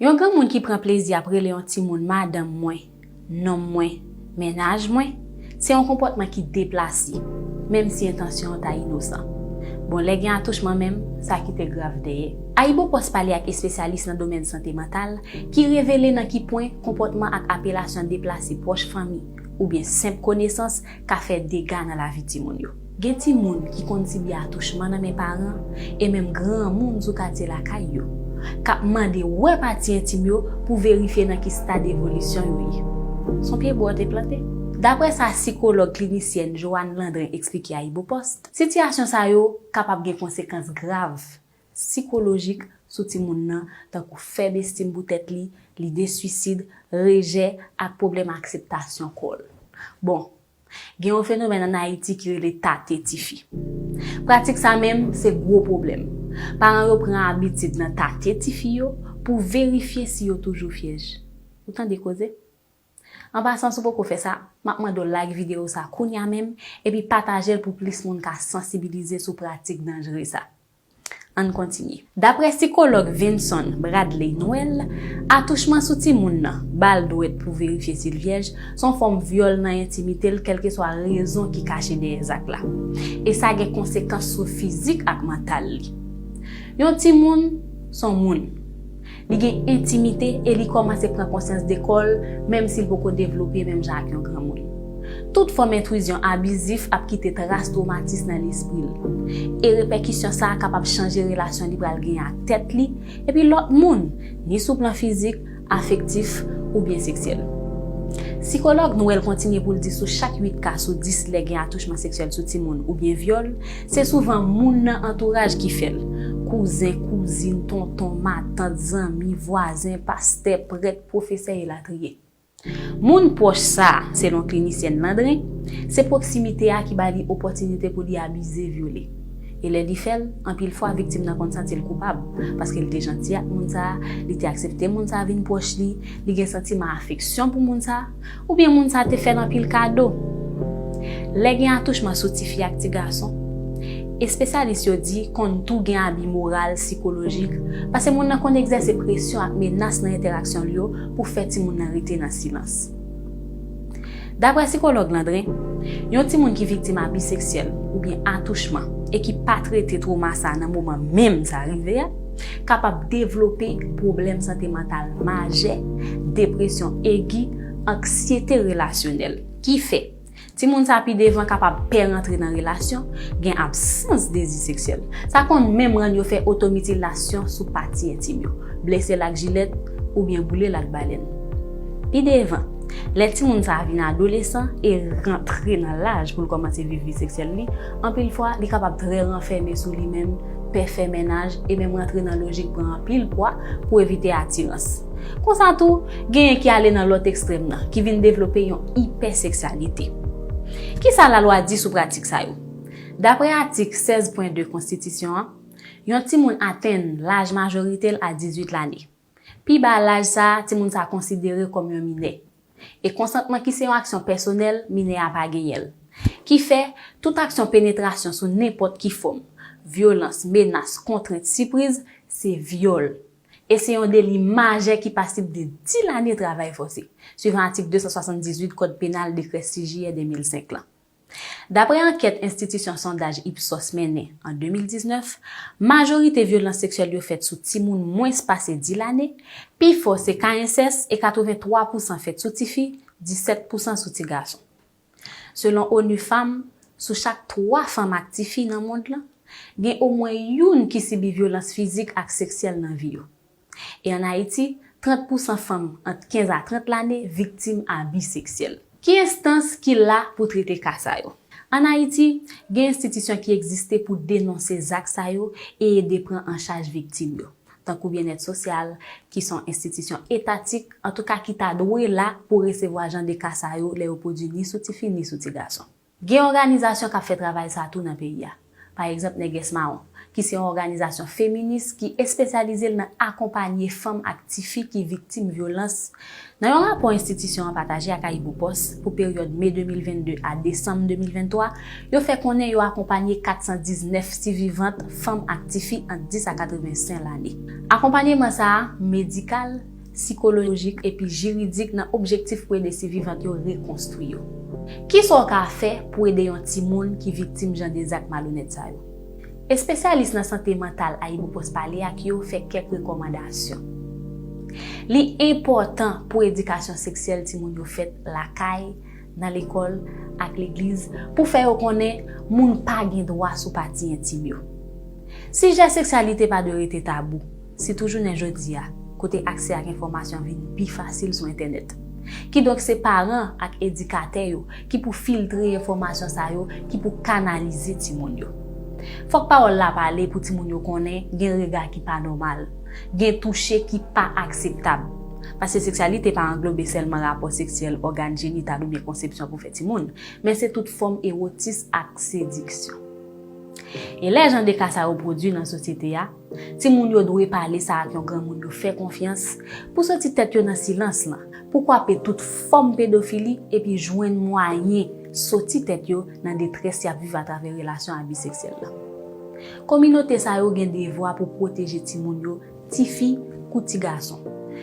Yon granmoun ki pran plezi ap rele yon timoun madanm mwen, nonm mwen, mennaj mwen, se yon konpòtman ki deplase, menm si entansyon an ta inosan. Bon, lè gen atouchman menm, sa kite grav dèyè. AyiboPost pale ak espesyalis nan domèn sante mantal ki revele nan ki pwen konpòtman ak apelasyon deplase pwòch fanmi oubyen senp konesans ka fè dega nan lavi timoun yo. Gen timoun ki konn sibi atouchman nan men paran e menm granmoun sou katye lakay yo, k ap mande wè pati entim yo pou verifye nan ki stad evolisyon yo ye. S on pye bwa w te plante. Daprè sa sikològ klinisyèn Johanne Landrin eksplike Ayibopost, sitiyasyon sa yo kapab gen konsekans grav sikolojik sou timoun nan, tankou fèb estim pou tèt li, lide swisid, rejè, ak pwoblèm akseptasyon kò l. Bon, gen yon fenomèn ann Ayiti ki rele tate tifi. Pratik sa menm, se gwo pwoblèm. Paran yo pran abitid nan tate tifi yo pou verifye si yo toujou vyèj. Ou tande koze! An pasan si w poko fè sa, m ap mande w like videyo sa kounya menm epi pataje l pou plis moun ka sansibilize sou pratik danjre sa. Ann kontinye. Daprè sikològ Vinson Bradley Noel, atouchman sou timoun nan, ba l dwèt pou verifye si l vyèj, s on fòm vyòl nan entimite l kèlkeswa rezon ki kache dèyè zak la. E sa gen konsekans sou fizik ak mantal li. Yon timoun, s on moun. Li gen entimite e li kòmanse pran konsyans de kò l, menm si l poko devlope menm jan ak yon granmoun. Tout fòm entwizyon abizif ap kite tras twomatis nan lespri l. E repèkisyon sa a kapab chanje relasyon li pral genyen ak tèt li epi lòt moun, ni sou plan fizik, afektif, oubyen seksyèl. Sikològ Noel kontinye pou l di sou chak 8 ka sou 10 lè gen atouchman seksyèl sou timoun oubyen vyòl, Se souvan moun nan antouraj ki fè l. Kouzen, kouzin, tonton, matant, zanmi, vwazen, pastè, prèt, pwofesè elatriye. Moun pwòch sa a, selon klinisyèn Landrin, se pwoksimite a ki ba li opòtinite pou li abize, vyole. E lè li fè l, anpil fwa viktim nan konn santi l koupab, paske li te janti ak moun sa a, li te aksepte moun sa a vin pwòch li, li gen santiman afeksyon pou moun sa, Oubyen moun sa te fè l anpil kado. Lè gen atouchman sou tifi ak ti gason, espesyalis yo di konn tou gen abi moral, sikolojik, pase moun nan konn egzèse presyon ak menas nan entèraksyon l yo pou fè timoun nan rete nan silans. Daprè sikològ Landrin, yon timoun ki viktim abi seksyèl oubyen atouchman e ki pa trete twoma sa nan moman menm sa rive a, kapab devlope pwoblèm sante mantal majè, depresyon egi, anksyete relasyonèl. Ki fè, timoun sa pi devan kapab pè rantre nan relasyon, gen absans dezi seksyèl. Sa konn menm rann yo fè otomitilasyon sou pati entim yo, blese l ak jilèt oubyen boule l ak balèn. Pi devan, lè timoun sa vin adolesan e rantre nan laj pou l kòmanse viv vi seksyèl li, anpil fwa li kapab trè ranfème sou li menm, pè fè mennaj e menm rantre nan lojik pran anpil pwa pou evite atirans. Konsa tou, genyen ki ale nan lòt ekstrèm nan, ki vin devlope yon ipèseksyalite. Kisa lalwa di sou pratik sa yo? Daprè atik 16 pwen 2 konstitisyon an, yon timoun atenn laj majorite l a 18 lane. Pi ba laj sa a, timoun sa a konsidere kòm yon minè. E konsantman ki se yon aksyon pèsonèl, minè a pa genyen l. Ki fè, tout aksyon penetrasyon sou nenpòt ki fòm, vyolans, menas, kontrent, sipriz, se vyòl. E se yon deli majè ki pasib de 10 lane travay fòse, suivan atik 278 kòd penal dekrè 6 jiyè 2005 lan. Daprè ankèt enstitisyon sondaj Ipsos mennen an 2019, majorite vyolans seksyèl yo fèt sou timoun mwens pase 10 lane, pi fò se ka ensès e 83 pousan fèt sou tifi, 17 pousan sou ti gason. Selon onu Fanm, sou chak 3 fanm ak tifi nan mond lan, gen omwen youn ki sibi vyolans fizik ak seksyèl nan vi yo. E an Ayiti, 30 pousan fanm ant 15 a 30 lane viktim abi seksyèl. Ki enstans ki la pou trete ka sa yo? An Ayiti, gen enstitisyon ki egziste pou denonse zak sa yo e ede pran an chaj viktim yo, tankou Byennèt Sosyal, ki s on enstitisyon etatik, antouka ki ta dwe la pou resevwa jan de ka sa yo lè yo pwodui ni sou tifi ni sou tigason. Gen òganizasyon k ap fè travay sa a tou nan peyi a. Pa egzanp Nègès Mawon, ki se yon òganizasyon feminis ki espesyalize l nan akonpanye fanm ak tifi ki viktim vyolans Nan yon rapò enstitisyon an pataje ak AyiboPost pou peryòd me 2022 a desanm 2023, yo fè konnen yo akonpanye 419 sivivant fanm ak tifi ant 10 a 85 lane. Akonpanyeman sa a medikal, sikolojik epi jiridik nan objektif pou ede sivivant yo rekonstwi yo. Kisa w ka fè pou ede yon timoun ki viktim jan de zak malonèt sa yo? Espesyalis nan sante mantal AyiboPost pale ak yo fè kèk rekòmandasyon. Li enpòtan pou edikasyon seksyèl timoun yo fèt lakay, nan lekòl, ak legliz pou fè yo konnen moun pa gen dwa sou pati entim yo. Sijè seksyalite pa dwe rete tabou. sitou jounen jodi a, kote aksè ak enfòmasyon vini pi fasil sou entènèt. Kidonk se paran ak edikatè yo ki pou filtre enfòmasyon sa yo, ki pou kanalize timoun yo. Fòk pawòl la pale pou timoun yo konnen gen rega ki pa nòmal, gen touche ki pa akseptab. Paske seksyalite pa anglobe sèlman rapò seksyèl, ògàn jenital oubyen konsepsyon pou fè timoun, men se tout fòm ewotis ak sediksyon. E lè jan de ka sa yo pwodui nan sosyete a, Timoun yo dwe pale sa ak yon granmoun yo fè konfyans pou soti tèt yo nan silans lan, pou kwape tout fòm pedofili epi jwenn mwayen soti tèt yo nan detrès y ap viv atravè relasyon abi seksyèl la. Kominote sa yo gen devwa pou pwoteje timoun yo, tifi kou tigason.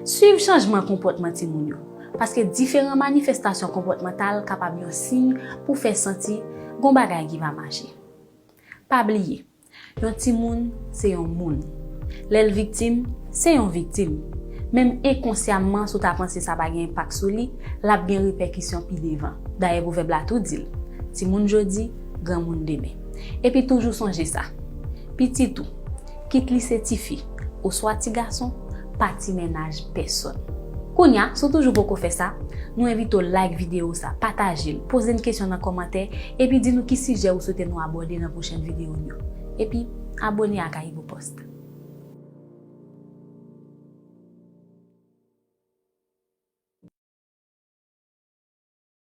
Suiv chanjman konpòtman timoun yo, paske diferan manifestasyon konpòtmantal kapab yon siy pou fè santi gon bagay ki pa mache. Pa bliye. Yon timoun se yon moun. Lè l viktim, se yon viktim. Menm enkonsyamman si w ta panse sa pa gen enpak sou li, l ap gen repèkisyon pi devan. Dayè pwovèb la tou di l, Timoun jodi, granmoun demen. Epi toujou sonje sa, pitit ou, kit li se tifi, oswa ti gason pa ti mennaj pèsòn. Kounya, si w toujou poko fè sa, nou envite w like videyo sa, pataje l, poze n kesyon nan kòmantè, epi di nou ki sijè ou swete nou abòde nan pwochèn videyo n yo. Epi, abone ak AyiboPost.